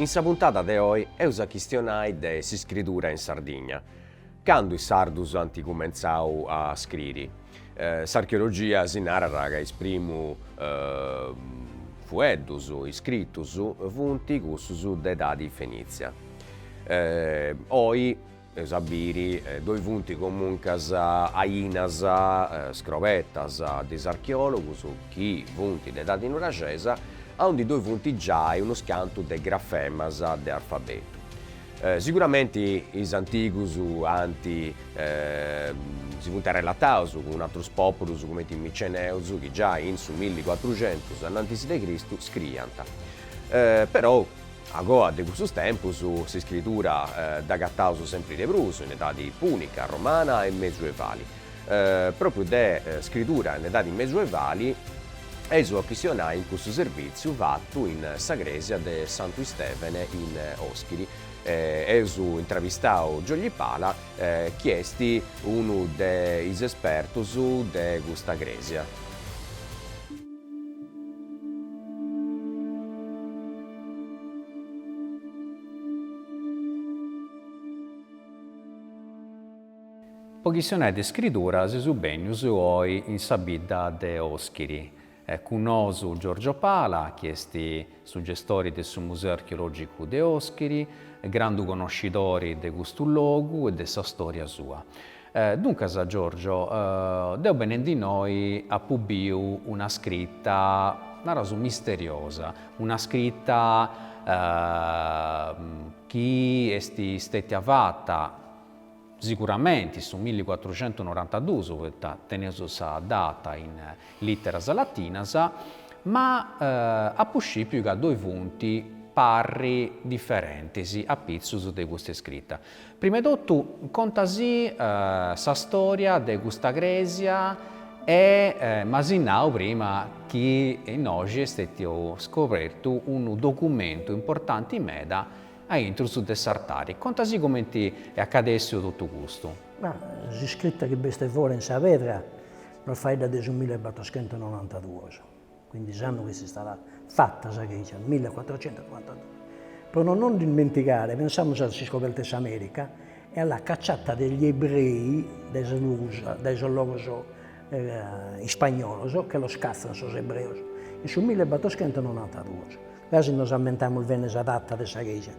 In sa puntada de oi eus a chistionai de s'iscridura in Sardigna. Candu is sardus ant cumentzau a scriri? S'archeologia si narat ca is primus fueddus iscritus funt cussus de edadi fenìtzia. Oi eus a biri ddoi funt comuncas ainas scrobetas de is archeòlogus chi funt de edadi nuraxesa, aundi ddoi funt giai unus cantu de grafemas de arfabetu. Siguramenti is antigus ant si funt arrelataus cun atrus pòpulus cumenti is miceneus chi giai in su milli cuatruxentus annantisi de Cristu scriiant. Perou A goa de cussus tempus, s'iscridura dd'agataus sempri de prus in edadi pùnica, romana e mezuevali. Pròpriu de scridura in edadi mezuevali eus a chistionai in cussu servìtziu fatu in sa crèsia de Santu Istèvene in Òschiri. Eus intravistau Giogli Pala chi est unu de is espertus de custa crèsia. Po chistionai de iscridura seus bènnius oi in sa bidda de Oschiri. Cun nosu Giorgio Pala, chi est su gestori de su Museu Archeològicu de Oschiri, grandu connoscidori de custu logu e de sa stòria sua. Duncas, Giorgio, deu benendi innoi apu biu una scrita, naraus, misteriosa, una scrita chi est stètia fata, siguramenti, in su milliguatruxentunorantadus, poita teneus sa data in literas latinas, ma apu scipiu ca ddoi funt parris diferentis apitzus de custa scrita. Prima 'e totu conta si sa storia de custa crèsia m'as nau prima chi innoxi est stètiu scobertu unu documentu importanti meda a intrus de s'artari. Conta si comenti est acadèssiu totu custu. Bha, s'iscrita chi b'est fora in sa pedra nos faeddat de su millebatrochentunonantaduos. Quindi s'annu chi s'istat fata sa chègia, millecuatrocentonovantadue. Pro no nos dimentigare, pensamus a s'iscoberta 'e s'Amèrica e a la cacciata degli ebrei dae sos logus, dae sos logos ispagnolos che los cazzan sos ebreos in su millebatoschentosnonantaduos. Gasi nos ammentamus bene sa data de sa chègia.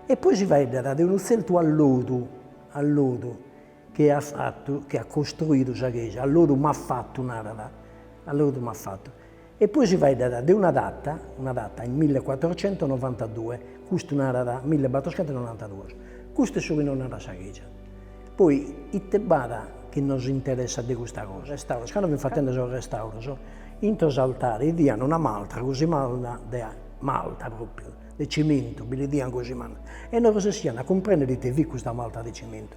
E poi si faeddat de unu tzertu allodu, allodu, Chie at fatu, chie at costruidu sa chègia, a lodu m'at fatu, narat, a lodu m'at fatu. E poi si faeddat de una data, una data, in millecuatrocentonovantadue, custu narat, millebatroscentonoantaduos, custu est su chi nos narat sa chègia. Poi ite b'at chi nos interessat de custa cosa? Restauros, cando fin fatende sos restauros, intro s'altare idian una maltra cosimada de malta pròpiu, de cimentu, bi bidian cosimada, e non resessian a cumprèndere ite fit custa malta de cimentu.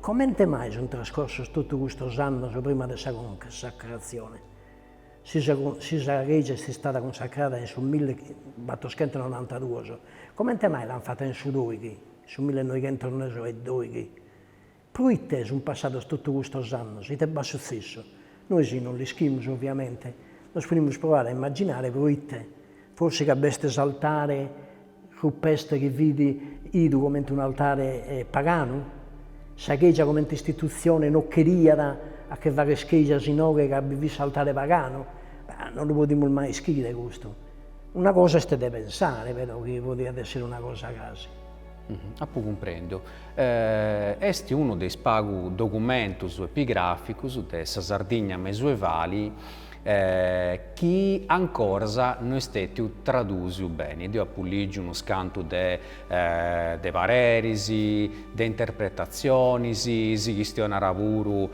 Comente mai sunt trascorsos totu custos annos prima de sa cunsacratzione? Si si sa chègia est istada cunsacrada in su millebatoschentononantaduos, comente mai l'ant fata in su doighi, in su millenoighentosedoighi? Pro ite sunt passados totu custos annos? Ite b'at sutzessu? Nois non l'ischimus oviamente, nos podimus proare a immaginare pro ite, forsi ca b'est s'altare rupestre chi fit bidu comente un'altare paganu, sa Chègia comente istitutzione no cheriat a che fagher chègias inoghe ca bi fit s'altare paganu, non lu podimus mai ischire custu, una cosa est de pensare però chi podiat èssere una cosa gasi. Apu cumprendiu. Est unu de is pagu documentus epigràficus de sa Sardigna mesuevali e chi ancoras no est stetiu tradusiu beni, deu apu ligiu unu scantu de de pareris, de interpretatzionis, si chistionat puru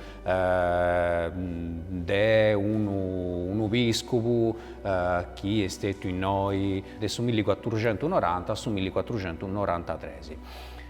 de unu unu piscobu chi est stetiu innoi de su milli cuatruxentus noranta a su milli cuatruxentu norantatresi.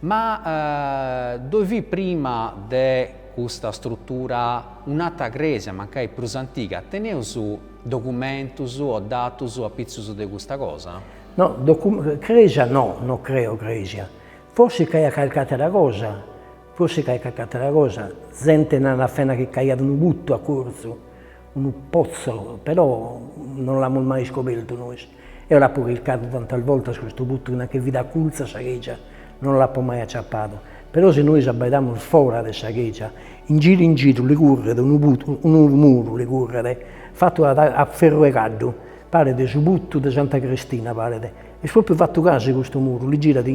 Ma ddoi fit prima de custa strutura un'atra crèsia, mancai prus antiga. Teneus documentus o datus apitzus de custa cosa? No, crèsia no, no creo crèsia. Forsis c'aiat calchi àtera cosa, forsis c'aiat calchi àtera cosa, zente narat fena chi c'aiat unu putu acurtzu, Unu pozzo, però non l'amus mai iscobertu nois. Eo l'apo chircadu tantas bortas custu putu nachi fit acultzu a sa chègia, non l'apo mai aciapadu. Però si nois abaidamus fora de sa chègia, in giru in giru li curret unu muru, unu muru li curret, fatu a ferru 'e caddu, paret su putu de Santa Cristina paret, est pròpriu fatu gasi custu muru, li girat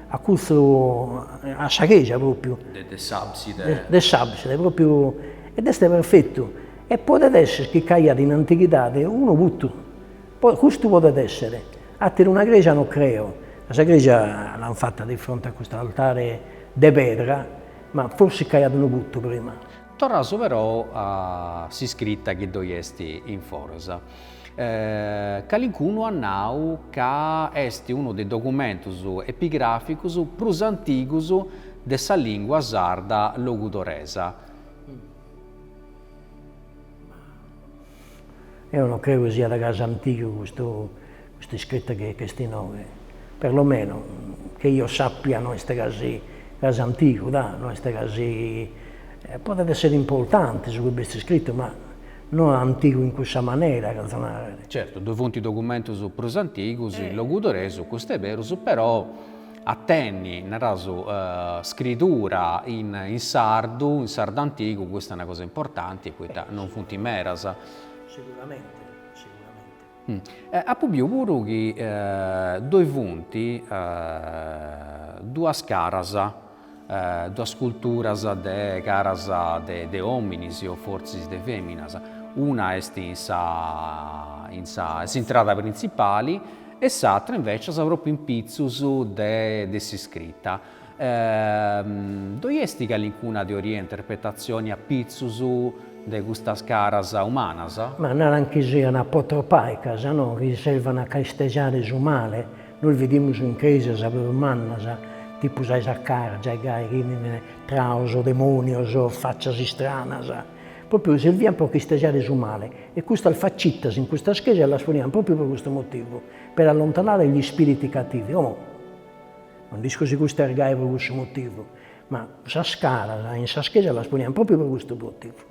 acurtzu a sa chègia pròpriu. De s'abside. De s'abside, pròpriu Ed est perfetu, e podet esser chi ch'aiat in antighidade unu putu, custu podet esser, àter'una crèja no creo, ca sa crèja l'ant fata de fronte a custu altare de pedra, ma forsis ch'aiat unu putu prima. Torraus però a s'iscrita chi ddoi est in foras. Calincunu at nau ca est unu de is documentus epigràficus prus antigus de sa lìngua sarda logudoresa, Eo no creo chi siat gasi antigu custu custu iscritu chi est inoghe, perlomeno che io sappia no est gasi gasi antigu dà, no est gasi, podet essere importante su chi b'est iscritu ma no antigu in cussa manera cherzo nàrrer. Certu, ddoe funt documentus prus antigus in logudoresu, custu est berus, però. a tenni, naraus, scritura in sardu, in sardu antigu, custa est una cosa importanti poita non funt meras. Seguramente, seguramente. Apu biu puru chi ddoi funt duas caras. Duas sculturas de caras de ominis o fortzis de feminas, una est in sa in sa s'intrada printzipali e s'atra invecias propriu in pitzus de de s'iscrita. Ddoi est calincuna teoria e interpretatzioni a pitzus de custas caras umanas? Ma naran chi sian apotropàicas, no chi servan a ch'istejare su male, Nos vidimus in crèsias prus mannas, tipu sa 'e Sacàrgia, gai chi bi nd'at traos, demonios, faccias istranas, propriu serviant pro ch'istejare su male, e custas facittas in custas crèsias las poniant propriu pro custu motivu, per allontanare gli spiriti cattivi. Como non nd'isco si cust'est gai pro cussu motivu, ma sas caras in sas crèsias las poniant propriu pro custu motivu.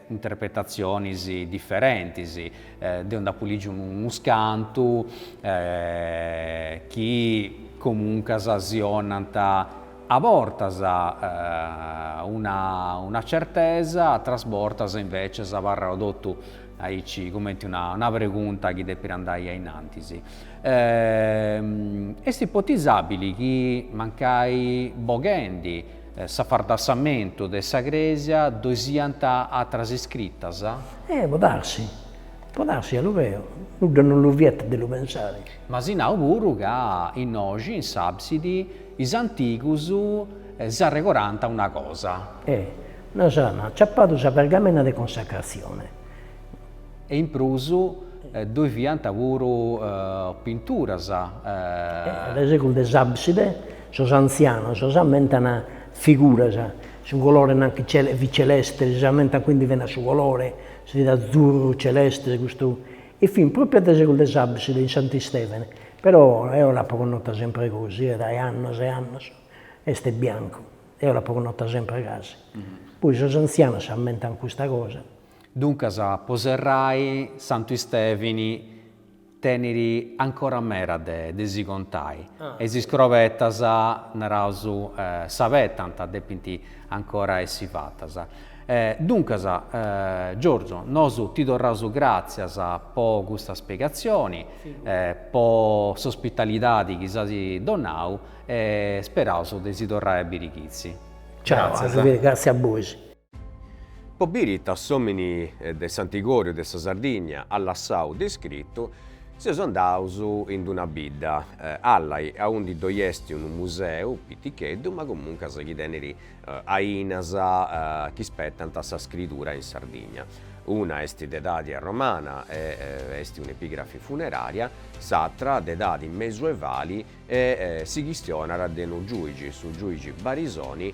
interpretatzionis diferentis, deu nd'apu lìgiu unus cantu chi comuncas si 'onant a bortas una una certesa, atras bortas invècias abarrau totu aici cumenti una una pregunta chi depit andai a in antis. Est ipotizàbili chi mancai boghendi S'afardassamentu de sa crèsia ddoi siant atras iscritas? Eh, può darsi. Può darsi, a lu creo, nudda non lu vietat de lu pensare. M'as nau puru ca innoxi in s'àbsidi is antigus s'arregorànt una cosa. Eh, nois amus ciapadu sa pergamena de consacratzione. E in prus ddoi fiant puru pinturas. Dae segus de s'àbside sos antzianos s'ammentan figuras, su colore nant chi fit celeste, si s'ammentan quindi fina su colore, si fit azzurru, celeste, custu, e fin pròpiu a dae segus de s'àbside in Sant'Istèvene, però eo l'apo connota sempre gosi, e dae annos e annos est biancu, eo l'apo connota sempre gasi, poi sos antzianos s'ammentan custa cosa Duncas po serrai Santu Istèvini tenit ancora meda de si contai e is iscrobetas, naraus, s'abetant, depint ancora essi fatas. Duncas Giorgio nosu ti torraus gràtzias po custa spiegatzioni, po s'ospitalidadi chi s'asi donau e speraus de si torrai a biri chizi. Ciao, gràtzias a bois. Po biri ita s'omini de s'antigoriu de sa Sardigna at lassau de iscritu, seus andaus in una bidda, Allai, aundi ddoi esti unu museu piticheddu ma comuncas chi tenit ainas chi spetant sa scridura in Sardigna. Una esti de edadi romana e esti un'epigrafi funeraria, s'atra de edadi mesuevali e si chistionat de unu giuigi, su giuigi Barisoni,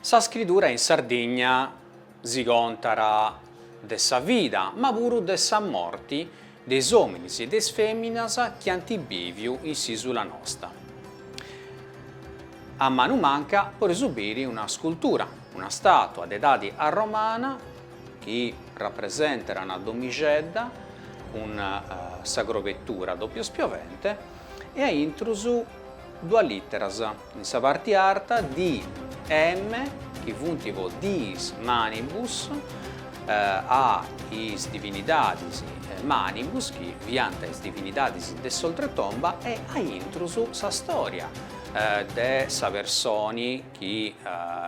Sa scridura in Sardigna si contat de sa vida ma puru de sa morti de is òminis e de is fèminas chi ant bìviu in s'ìsula nosta. A manu manca podeus biri una scultura, una stàtua de edadi arromana, chi rapresentat una domixedda cun sa crobetura doppio spiovente e a intrus duas literas in sa parti arta DM chi funt po Diis Manibus a is divinidadis Manibus chi fiant is divinidadis de s'oltretomba e a intrus sa storia de sa personi chi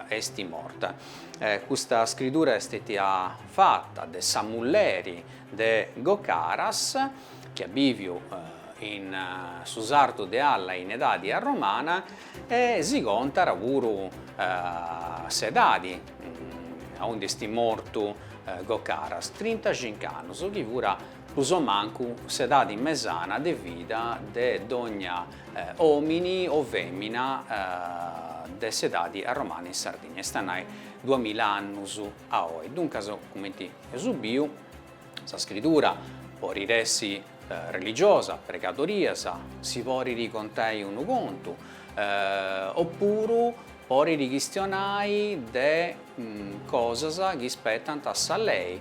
est morta. Custa scridura est stetia fata de sa mulleri de Gocaras, chi at bìviu in su sartu de Allai in edadi arromana, e si contat puru s'edadi aundi est mortu Gocaras, trintacincu annus, chi fura Pro so mancu s'edadi mesana de vida de dogna òmini o fèmina de s'edadi romana in Sardigna, est a nai duamila annus a oi. Duncas, cumenti eus biu, sa scritura porit essi religiosa, pregadorias, si porit contai unu contu, opuru porit chistionai de cosas chi ispetant a sa lei.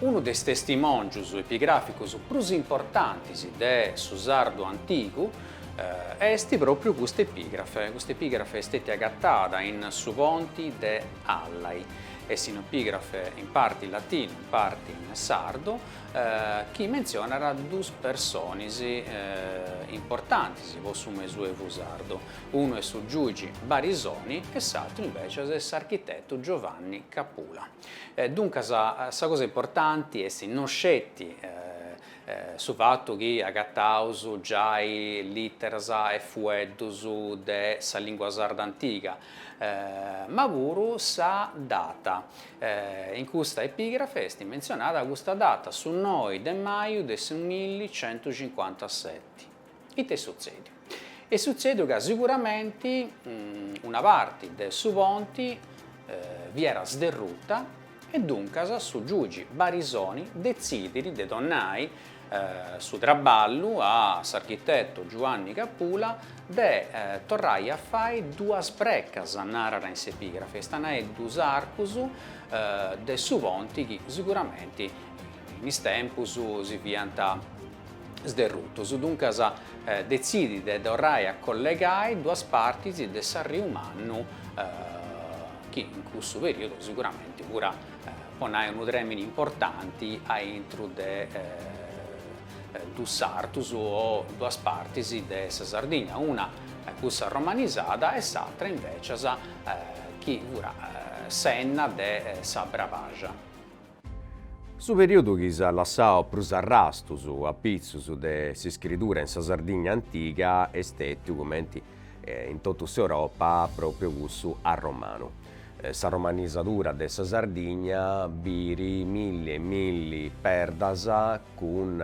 Unu de is testimòngius epigràficus prus importantis de su sardu antigu est pròpriu custa epigrafe. Custa epigrafe est stètia agatada in su ponti de Allai. Est un'epigrafe in parti in latinu, in parti in sardu, chi mentzionat duus personis importantis po su mesuevu sardu. Unu est su giugi Barisoni e s'atru invecias est s'architetu Giovanni Capula. Duncas sa cosa importanti est no sceti su fatu chi agataus giai literas e fueddus de sa lingua sarda antiga, ma puru sa data. In custa epigrafe est mentzionada custa data, su noi de maju de su milli centu cincuantaseti. Ita est sutzèdiu? Est sutzèdiu ca siguramenti una parti de su ponti fiat sderruta e duncas su giugi Barisoni detzidit de donnai su traballu a s'architetu Giuanni Capula de torrai a fai duas brecas, narat in s'epigrafe, est a nai duus arcus de su ponti chi siguramenti in is tempus si fiant sderrutus, duncas detzidit de torrai a collegai duas partis de s'Arriu Mannu, chi in cussu periodu siguramenti fuat po nai unu tremini importanti aintru de dus sartus o duas partis de sa Sardigna, una cussa romanizada e s'atra invecias chi fuat s'enna de sa Brabaxa. Su periodu chi s'at lassau prus arrastus a pitzus de s'iscridura in sa Sardigna antiga est stètiu, cumenti in totu s'Europa, pròpriu cussu arromanu. Sa romanizadura de sa Sardigna birit milli e milli perdas cun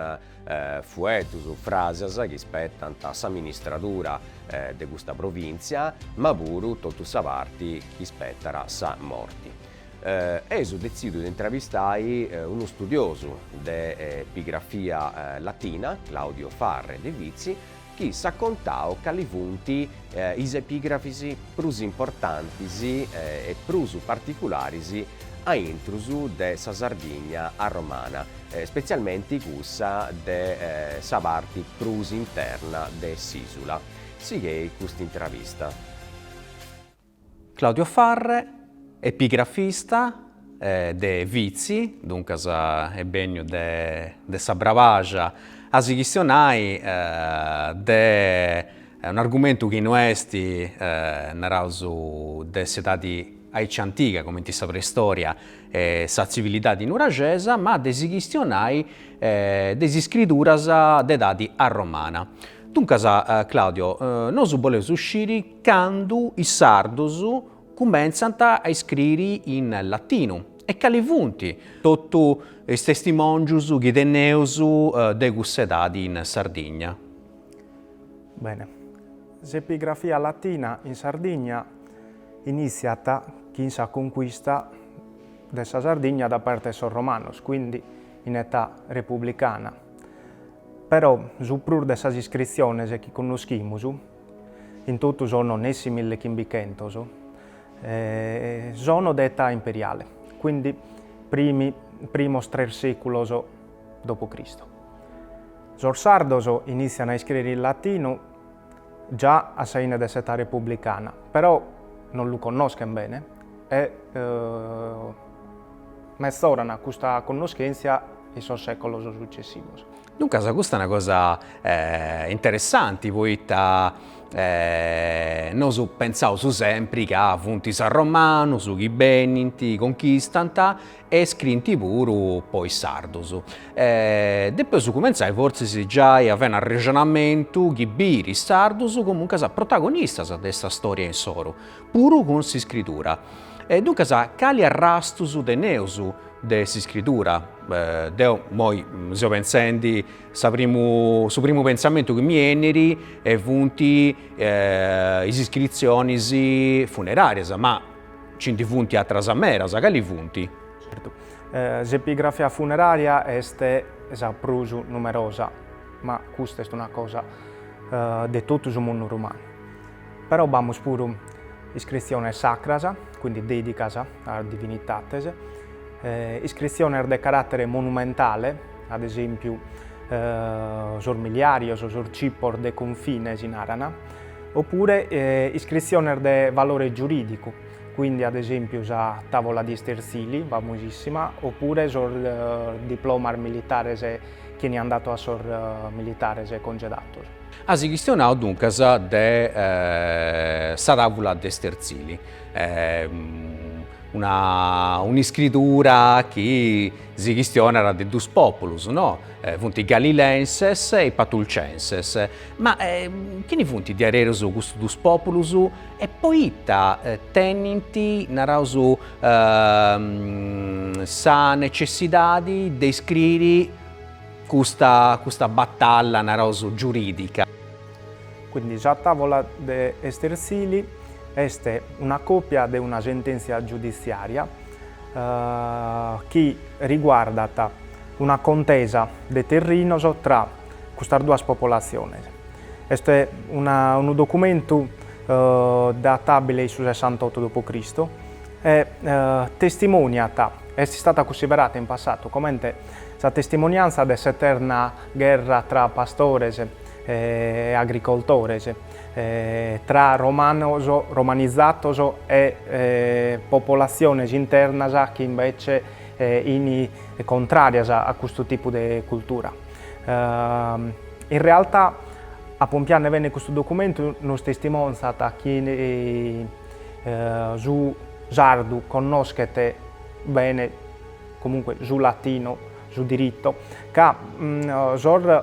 fueddus, fràsias chi ispetant s'aministradura de custa provìntzia, ma puru totu sa parti chi ispetat sa morti. Eus detzidu de intravistai unu studiosu de epigrafia latina, Claudio Farre de Vitzi, chi s'at contau cali funt is epigrafis prus importantis e prus particularis aintrus de sa Sardigna arromana, spetzialmenti cussa de sa parti prus interna de s'ìsula. Sighei custa intravista. Claudio Farre, epigrafista de Vitzi, duncas est bènniu de sa Brabaja a si chistionai de un'argumentu chi no est, naraus, de s'edadi aici antiga, cumenti sa preistòria e sa tzivilidadi nuraxesa, ma de si chistionai de is iscriduras de edadi arromana. Duncas, Claudio, nosu boleus sciri candu is sardos cumentzant a iscriri in latinu e cali funt totu is testimòngius chi teneus de cussa edadi in Sardigna. Bene, s'epigrafia latina in Sardigna inìtziat chin sa concuista de sa Sardigna da parte 'e sos romanos, quindi in età republicana. Però su prus de sas iscritziones chi connoschimus In totu sono nessi milli chimbichentos e sono de età imperiale, quindi primos tres seculos dopo Cristo. Sos sardos initzian a iscrere in latinu già a sa 'ine de s'età republicana, però non lu connoschen bene e mezoran custa connoschentzia in sos seculos successivos. Duncas custa est una cosa interessanti poita nosu pentzaus sempri ca funt is arromanus chi benint, conchistant e scriint puru po is sardus. Depeus cumentzai fortzis giai a fai un arrexonamentu chi biri is sardus comunque protagonistas de sa storia insoru. Puru cun s'iscridura. E duncas cali arrastus teneus de s'iscridura? Deo moi seu pentzendi, sa primu, su primu pentzamentu chi mi 'enit funt is iscritzionis funeràrias, ma nci funt atras meras, cali funt? Certu, s'epigrafia funerària est sa prus numerosa, ma custa est una cosa de totu su mundu romanu. Però b'amus puru iscritziones sacras, quindi dèdicas a sas divinitates, iscritziones de caràtere monumentale, ad esèmpiu sos miliàrios, sos cipos de confine si naran, opure iscritziones de valore giurìdicu, quindi ad esèmpiu sa tàvola de Istersili, famosìssima, opure sos diplomas militares chi eniant datos a sos militares congedados. As chistionadu duncas de sa tàvula de Stertzili, una un'iscridura chi si chistionat de duus pòpulus, no? Funt galilenses e patulcenses. Ma chini funt diaderus custus duus pòpulus e poita tenint, naraus, sa necessidadi de iscriri Custa, custa batalla, naraus, giuridica. Quindi sa tavola de Estersili est una copia de una sentèntzia giuditziària chi riguardat una contesa de terrinos tra custas duas popolatziones. Est una, unu documentu databile in su sessantotto dopo Cristo e testimoniat, est istata cussiderata in passatu comente Sa testimoniantza de s'eterna gherra tra pastores e agricoltores, tra romanos, romanizatos e popolatziones internas chi imbetzes fin contràrias a custu tipu de cultura. In realtà, a pompiande bene custu documentu, nos testimòngiat chi su sardu connoschet bene, comunque su latinu, su diritto, ca sos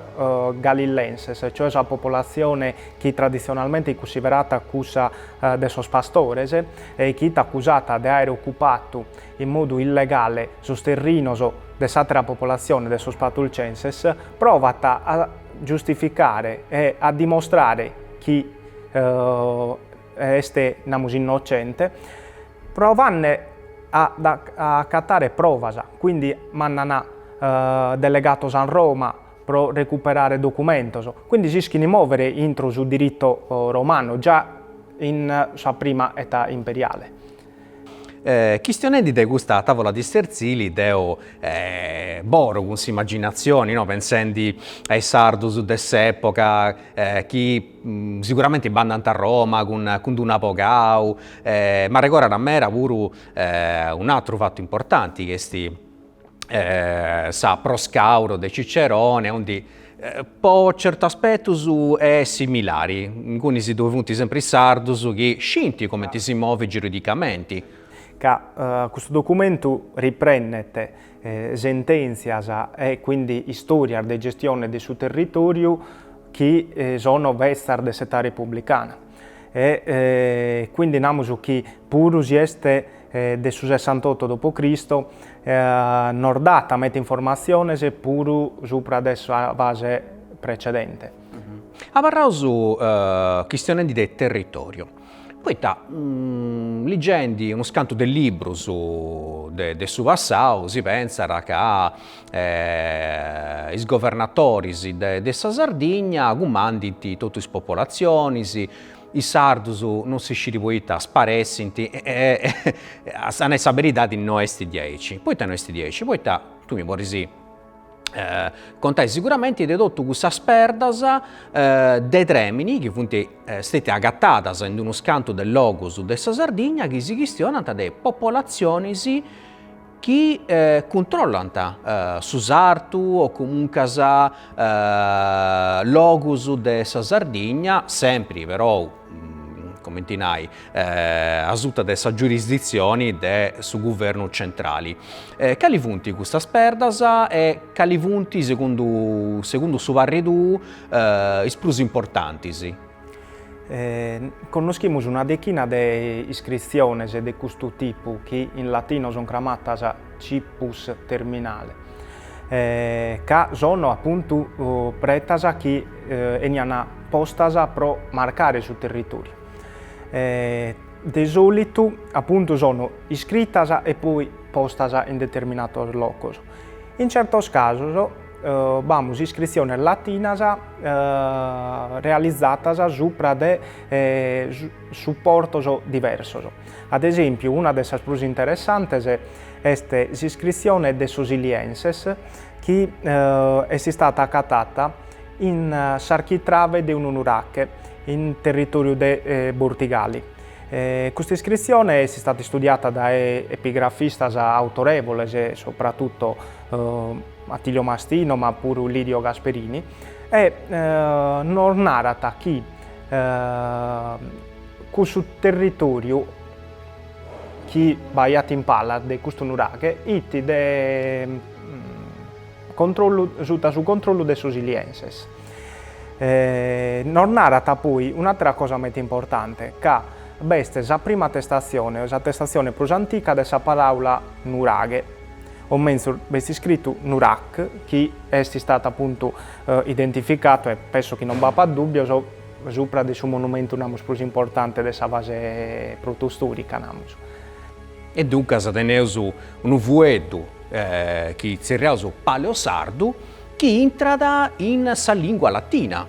galillenses, cioè sa popolatzione chi traditzionalmente fit cussiderata cussa de sos pastores e chi fit acusata de àere ocupadu in modu illegale sos terrinos de s'àtera popolatzione de sos patulcenses, provat a giustificare e a dimostrare chi est, namus, innocente. Provande a acatare provas, quindi mandant delegatos a Roma pro recuperare documentos, quindi s'ischint mòvere intro su diritu romanu già in sa prima età imperiale. Chistionendi de custa tàvola de Istertzili deo bolo cun s'immaginazioni, no, pensendi a is sardos de s'epoca, chi siguramenti b'andant a Roma cun d-un'abogau, m'arregorat meda puru un'atteru fattu importanti chi est sa Pro Scauro de Cicerone, aundi po certu aspettus est similari, ingunis si ddoe funt sempri is sardus chi scinti comenti si movit giuridicamenti. Ca custu documentu riprendet sentèntzias e quindi istòrias de gestione de su territòriu chi sono betzas de s'età republicana. E quindi namus chi puru si est de su sessantotto dopo Cristo nos dat medas informatziones puru supra de sa fase precedente. Abarraus chistionendi de territòriu, Poita ligendi unus cantu de libbrus de su passau si pentzat ca is governatoris de de sa Sardigna cumandint totu is popolatzionis, is sardus non si scit poita sparessint e a nai sa beridadi no est diaici. Poita no est diaici, poita tui mi podis contai siguramenti de totu cussas perdas de trèmini chi funt stètias agatadas in unus cantu de logus de sa Sardigna chi si chistionant de popolatzionis chi cuntrollant su sartu o comuncas logus de sa Sardigna, sempri perou comenti nai, asuta de sa giurisditzioni de su guvernu tzentrali. Cali funt custas perdas e cali funt, segundu segundu su parri tuu, is prus importantis? Connoschimus una dechina de iscritziones de custu tipu chi in latino sono cramatas Cippus terminale. Ca sono apuntu pretas chi 'enian postas pro marcare su territòriu. De sòlitu apuntu sono iscritas e poi postas in determinados locos. In certos casos b'amus iscritziones latinas realizadas supra de supportos diversos. Ad esèmpiu, una de sas prus interessantes est s'iscritzione de sos Ilienses chi est istada acatada in s'architrave de unu nurache in territòriu de Bortigali. Custa iscritzione est istada istudiada dae epigrafistas autorèvoles, subra totu Attilio Mastino ma puru Lidio Gasperini, e nos narat chi Cussu territòriu chi b'aiat in palas de custu nuraghe it de controllu suta su controllu de sos ilienses. Nos narat poi un'àtera cosa meta importante, ca b'est sa prima attestatzione o s'attestatzione prus antica de sa paràula nuraghe, o menzus b'est iscritu Nurac, chi est istatu apuntu identificatu e penso chi non b'apat dùbbios, Supra de su monumentu namus prus importante de sa fase protostòrica namus. E duncas teneus unu fueddu chi tzerriaus Paleosardu chi intrat in sa lìngua latina,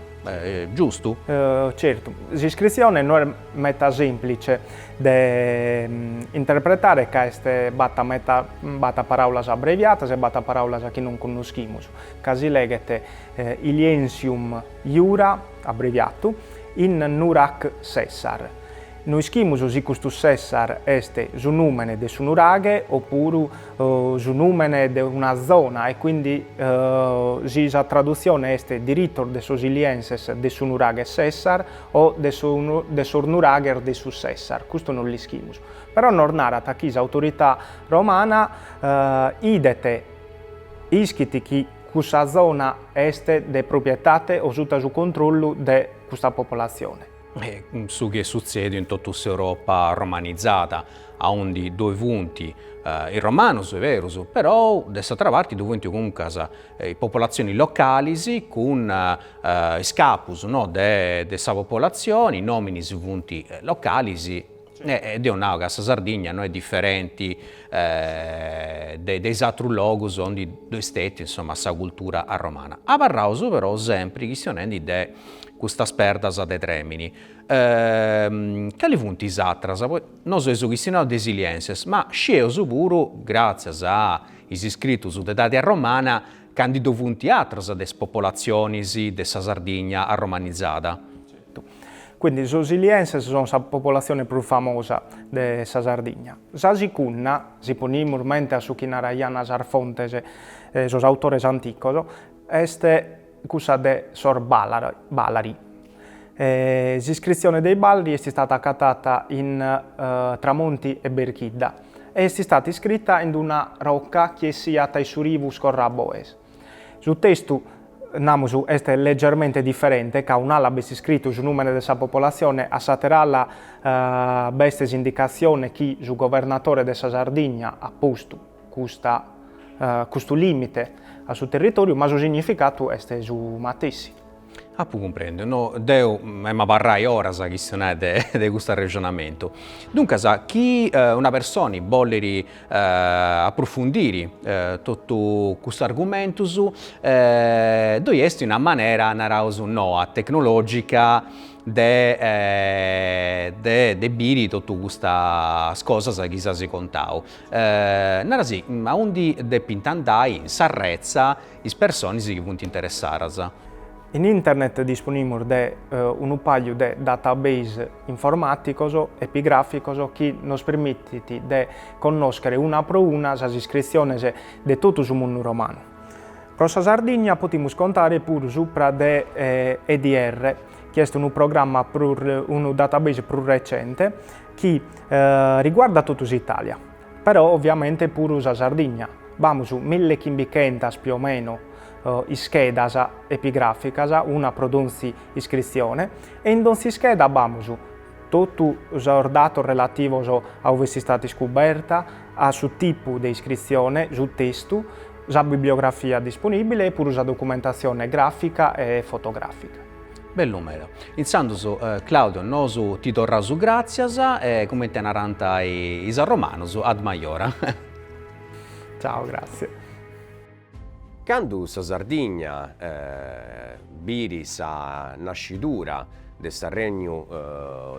giustu? Certu, s'iscritzione no est meta sèmplice de interpretare ca est b'at b'at paràulas abreviatas e b'at paràulas chi non connoschimus, ca si leghet Iliensium, Iura, abbreviatu, in Nurac Sessar. No ischimus si custu Sessar est su nùmene de su nuraghe o puru su nùmene de una zona e quindi si sa tradutzione est diritos de sos ilienses de su nuraghe Sessar o de sos nuraghes de su Sessar, custu non l'ischimus. Però nos narat chi s'autorità romana idet, ischit chi. Cussa zona est de proprietate o suta su controllu de custa popolatzione. Su chi est sutzèdiu in totu s'Europa romanitzada, aundi ddoi funt is romanus, est berus, però de s'atra parti ddoi funt comuncas popolatzionis localis cun is capus de sa popolatzioni, is nominis funt localis, E deu nau ca sa Sardigna no est diferenti de de is atrus logus ondi ddoi est stetiu insoma sa cultura arromana. Abarraus però sempri chistionendi de custas perdas de tremini, cali funt is atras, poita nosu eus chistionau de is ilienses, ma scieus puru, gratzias a is iscritus de idadi arromana, ca ndi ddoi funt atras de is popolatzionis de sa Sardigna arromanizada. Quindi sos ilienses son sa popolatzione prus famosa de sa Sardigna. Sa sicunna, si ponimus mente a su chi naraian sas fontes e sos autores anticos, est cussa de sos Balari. S'iscritzione de is Balari est istata acatada intra Monti e Berchidda e est istata iscrita in una rocca chi essiat dae su rivu Scorraboes. Su testu, namus, est legermente diferente, ca un'ala b'est iscritu su nùmene de sa popolatzione, a s'àtera ala b'est s'indicatzione chi su governatore de sa Sardigna at postu custa custu lìmite a su territòriu, ma su significatu est su matessi. Apu cumprendiu, no, deu em'abarrai oras a chistionai de custu arrexonamentu. Duncas, chi una personi bollit aprufundiri totu custus argumentus, ddoi est una manera, naraus noa, tecnologica de de biri totu custas cosas chi s'as contau. Narasi, aundi depint andai, in s'arretza is personis chi funt interessadas. In internet disponimus de unu pagliu de database informàticos epigràficos chi nos permitit de connòschere una pro una sas iscritziones de totu su mundu romanu. Pro sa Sardigna potimus contare puru supra de EDR, chi est unu programma, unu database prus recente chi riguardat totu s'Itàlia. Però oviamente puru sa Sardigna. B'amus mille chimbichentas più o meno ischedas epigràficas, una pro donzi iscritzione, e in donzi ischeda b'amus totu sos datos relativos a ue est istada iscuberta, a su tipu de iscritzione, su testu, sa bibliografia disponìbile e puru sa documentatzione gràfica e fotogràfica. Bellu meda. Intzandus Claudio nosu ti torraus gràtzias e cumenti narant is arromanus, ad maiora. Ciao grazie. Candu sa Sardigna biri sa nascidura de s'arregnu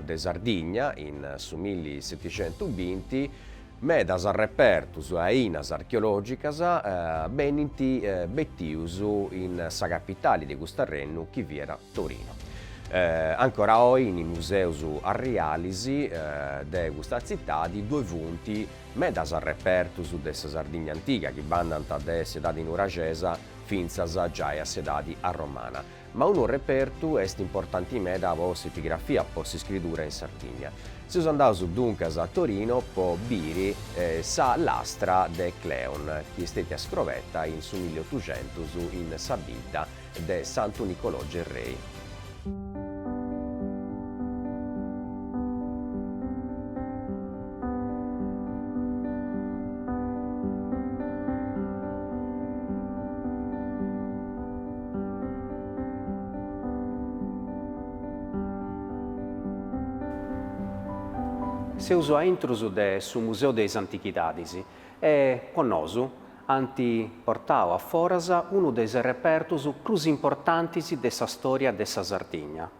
de Sardigna in su milli seticentu binti, Medas repertos e ainas archeològicas benint betidos in sa capitale de custu arrennu chi fiat Torino. Ancora oi in is museos arriales de custa tzitade ddoe funt medas repertos de sa Sardigna antiga chi bandant dae s'edade nuraxesa fintzas giai a s'edade arromana. Ma unu repertu est importanti meda po s'epigrafia, po s'iscridura in Sardigna. Seus andaus duncas a Torino po biri sa lastra de Cleon, chi est stètia scrobeta in su milliotuxentus in sa bidda de Santu Nicolò Gerrei. Seus a intrus de su Museu de is Antichidadis e po nosu ant portau a foras unu de is repertus prus importantis de sa stòria de sa Sardigna.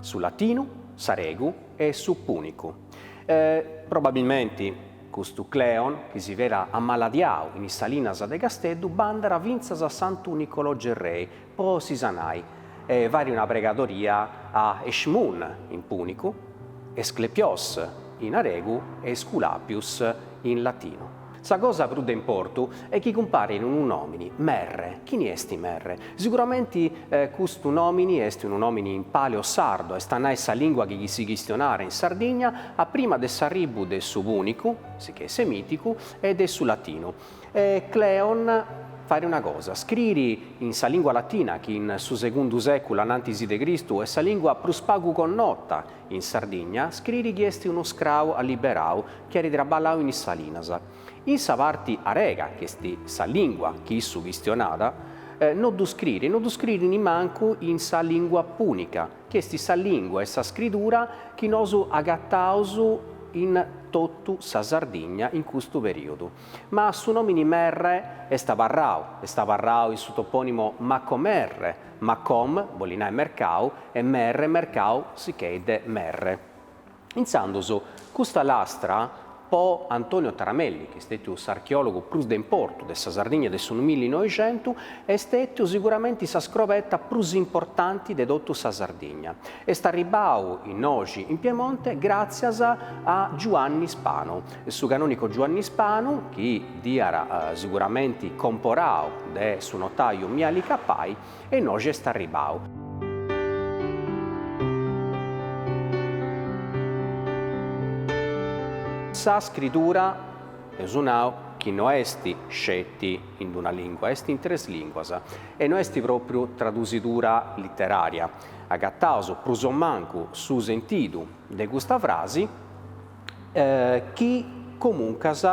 Su latinu, s'aregu e su pùnicu. Probabilmenti, custu Cleon, chi si fiat ammaladiau in is salinas de Casteddu, bandat fintzas a Santu Nicolò Gerrei po si sanai e fait una pregadoria a Eshmun, in pùnicu, Esclepios, in aregu, e Esculapius, in latinu. Sa cosa prus de importu est chi cumparit unu nòmini, Merre. Chini est Merre? Siguramenti custu nòmini est unu nòmini in paleosardo, est a nai sa lìngua chi chi si chistionàt in Sardigna a prima de s'arribu de su pùnicu, sichè semìticu, e de su latinu. E Cleon, fait una cosa, scriri in sa lìngua latina chi in su segundu sèculu anantisi de Cristu est sa lìngua prus pagu connota In Sardigna, scriri chi est unu scrau alliberau chi at traballau in is salinas. In sa parti arega, chi est sa lìngua chi issu chistionat, no ddu scriri e no ddu scriri nimancu in sa lìngua pùnica, chi est sa lìngua e sa scridura chi nosu agataus in totu sa Sardigna in custu perìodu. Ma su nòmini Merre est abarrau, est abarrau in su topònimo Macomerre, macom bolit nai mercau e Merre, mercau sichè de Merre. Intzandus custa lastra po Antonio Taramelli, chi est stètiu s'archeòlogu prus de importu de sa Sardigna de su millinoixentu, est stètiu siguramenti sa scroberta prus importanti de totu sa Sardigna. Est arribbau innoxi in Piemonte gràtzias a Giuanni Spano, Su canonico Giuanni Spanu, chi dd'iat siguramenti comporau de su notaiu Miali Cappai, e innoxi est arribau. Sa scridura, eus nau chi no est sceti in d-una lingua, est in tres linguas, e no est propriu tradusidura literaria, agataus prus o mancu su sentidu de custa frasi, chi comuncas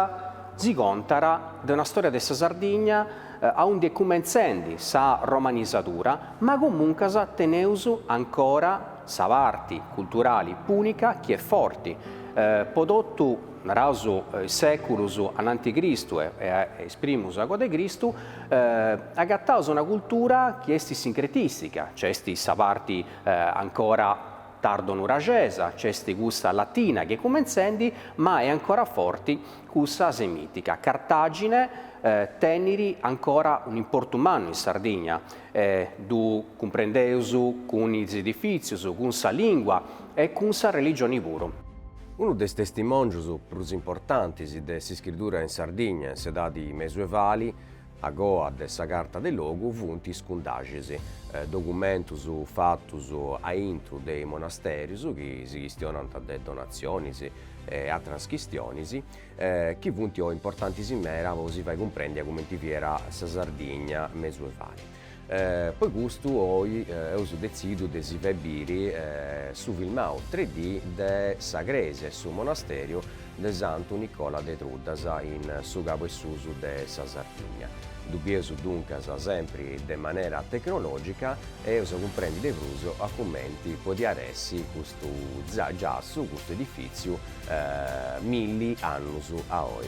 si contat de una stòria de sa Sardigna aundi est cumentzendi sa romanisadura, ma comuncas teneus ancora sa parti culturali pùnica chi est forti, po totu, naraus, is sèculos anant'e Cristu e e is primus agoa de Cristu, agataus una cultura chi est sincretìstica, nc'est sa parti ancora Tardo nuragesa, nc'est cussa latina chi est cumentzendi ma est ancora forti cussa semitica. Cartagine tenit ancora un importu mannu in Sardigna, ddu cumprendeus cun is edifizius, cun sa lingua e cun sa religioni puru. Unu de is testimongius prus importantis de s'iscridura in Sardigna in s'edadi mesuevali A goa de sa carta de logu funt is cundaxis,, documentus fatus a intru de is monasterius chi si chistionant de donatzionis e atras chistionis chi funt importantis meda po si fai cumprendi a cumenti fiat sa Sardigna mesuevali. Pro custu oi eus detzidu de si fai biri su filmau 3D de sa crèsia 'e su monasteriu de Santu Nicola de Truddas in su cabu 'e susu de sa Sardigna. Ddu bieus duncas sempri de manera tecnològica e eus a cumprendi de prus a cumenti podiat essi custu giassu, custu edifìtziu milli annus a oi.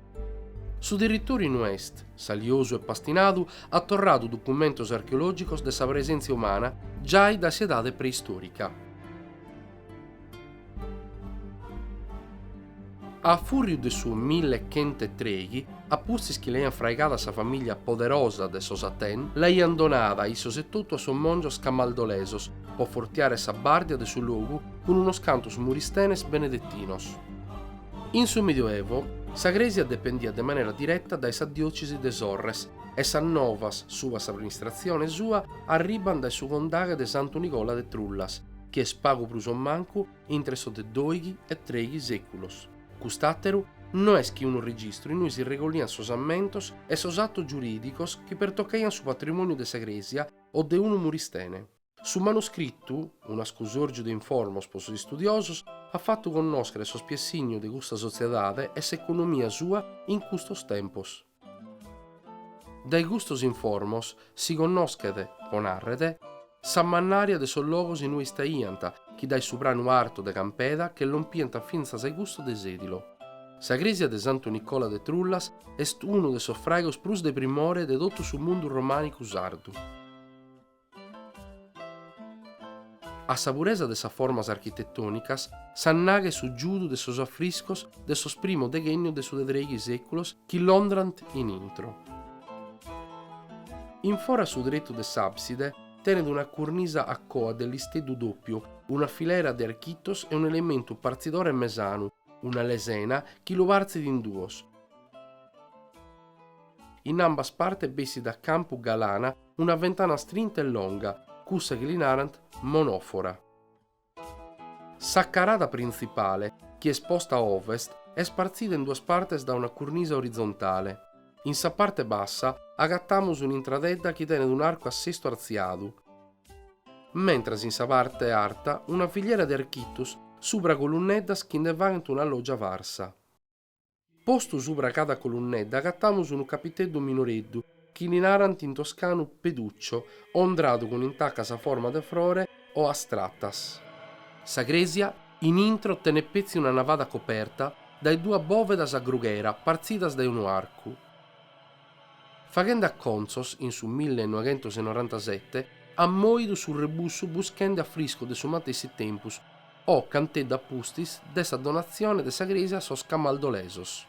Su territòriu in ue est saliosu e pastinadu at torradu documentos archeologicos de sa presenzia umana giai da s'edade preistorica. A furriu de su mille e chentz e trèighi, a pustis chi l'aiant fraigada sa famiglia poderosa de sos Aten, l'aiant donada issos etotu a sos mongios camaldolesos po fortiare sa bàrdia de su logu cun unos cantos muristenes benedetinos. In su Midioevu, sa crèsia dependiat de manera direta dae sa diòcesi de Sorres e sas novas subra s'amministratzione sua arribant dae su condaghe de Santu Nicola de Trullas, chi est pagu prus o mancu intre sos de doighi e treghi sèculos. Cust'àteru no est chi unu registru in ue si regoliant sos ammentos e sos atos giurìdicos chi pertocaiant su patrimòniu de sa crèsia o de unu muristene. Su manuscritu, un'ascusòrgiu de informos pro sos istudiosos, at fatu connòschere sos piessignos de custa sotziedade e s'economia sua in custos tempos. Dae custos informos si connòschet, pro nàrrere, sa mannària de sos logos in ue istaiant, chi dae su pranu artu de Campeda che lompiant fintzas a-e custu de Sèdilo. Sa crèsia de Santu Nicola de Trullas est unu de sos fraigos prus de primore de totu su mundu romànicu sardu. A sa puresa de sas formas architetònicas s'annaghet su giudu de sos afriscos de sos primos deghènnios de su de trèighi sèculos chi l'ondrant in intro. In fora su tretu de s'àbside tenet una curnisa a coa, de listeddu dòpiu, una filera de architos e un'elementu partzidore mesanu, una lesena, chi lu partzit in duos. In ambas partes bessit a campu galana una ventana strinta e longa, cussa chi li narant monòfora. Sa carada printzipale, chi est posta a ovest, est partzida in duas partes da una curnisa orizontale. In sa parte bassa agatamus un'intradedda chi tenet un'arcu a sestu artziadu, mentras in sa parte arta una filiera de architus subra colunneddas chi nde faghent una lògia farsa. Postu subra cada colunnedda agatamus unu capiteddu minoreddu, chi li narant in toscanu peduccio, ondradu cun intacas a forma de frore o astratas. Sa crèsia in intro tenet petzi una navada coperta dae duas bòvedas a grughera partzidas dae unu arcu. Faghende acontzos, in su mille e noighentos e norantasete, ant mòidu su rebussu buschende afriscos de su matessi tempus, o canteddu a pustis de sa donatzione de sa crèsia a sos camaldolesos.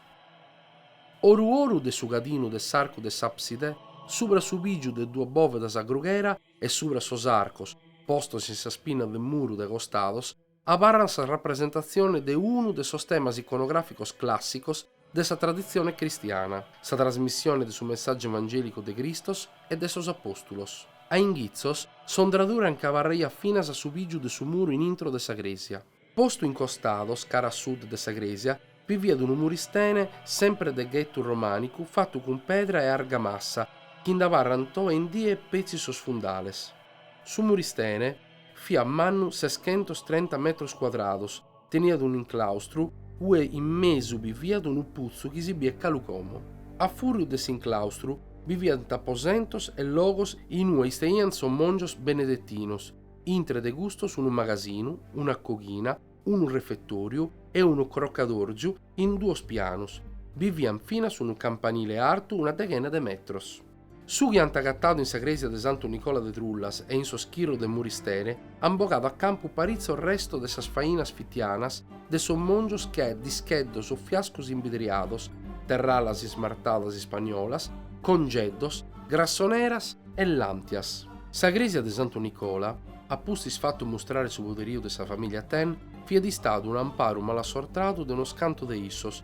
Oru oru de su cadinu de s'arcu de s'àpside, subra su pìgiu de duas bòvedas a grughera e subra sos arcos, postos in sas pinnas de muru de costados, abarrant sa rapresentatzione de unu de sos temas iconogràficos clàssicos de sa traditzione cristiana, sa trasmissione de su messàgiu evangèlicu de Cristos e de sos apòstulos. A inghitzos, s'ondradura nche abarraiat finas a su pìgiu de su muru in intro de sa crèsia. Postu in costados, cara a sud de sa crèsia, bi fiat unu muristene, semper de ghetu romànicu, fatu cun pedra e argamassa, chi nd'abarrant oe in die petzi sos fundales. Su muristene, Fiat mannu seschentos trenta metros cuadrados, teniat un'inclaustru ue in mesu bi fiat unu putzu chi si biet galu como. A fùriu de s'inclaustru bi fiant aposentos e logos in ue isteiant sos mòngios benedetinos, intre de custos unu magasinu, una coghina, unu refetòriu e unu crocadòrgiu in duos pianos. Bi fiat finas unu campanile artu una deghena de metros. Su chi ant agatadu in sa crèsia de Santu Nicola de Trullas e in sos chirros de muristene ant bogadu a campu paritzos restos de sas fainas fitianas de sos mòngios che discheddos o fiascos imbidriados, terralas ismartadas ispagnolas, congeddos, grassoneras e làntias. Sa crèsia de Santu Nicola, a pustis fatu mustrare su poderiu de sa famìlia Athen, fiat istadu un'amparu malassortadu de unos cantu de issos,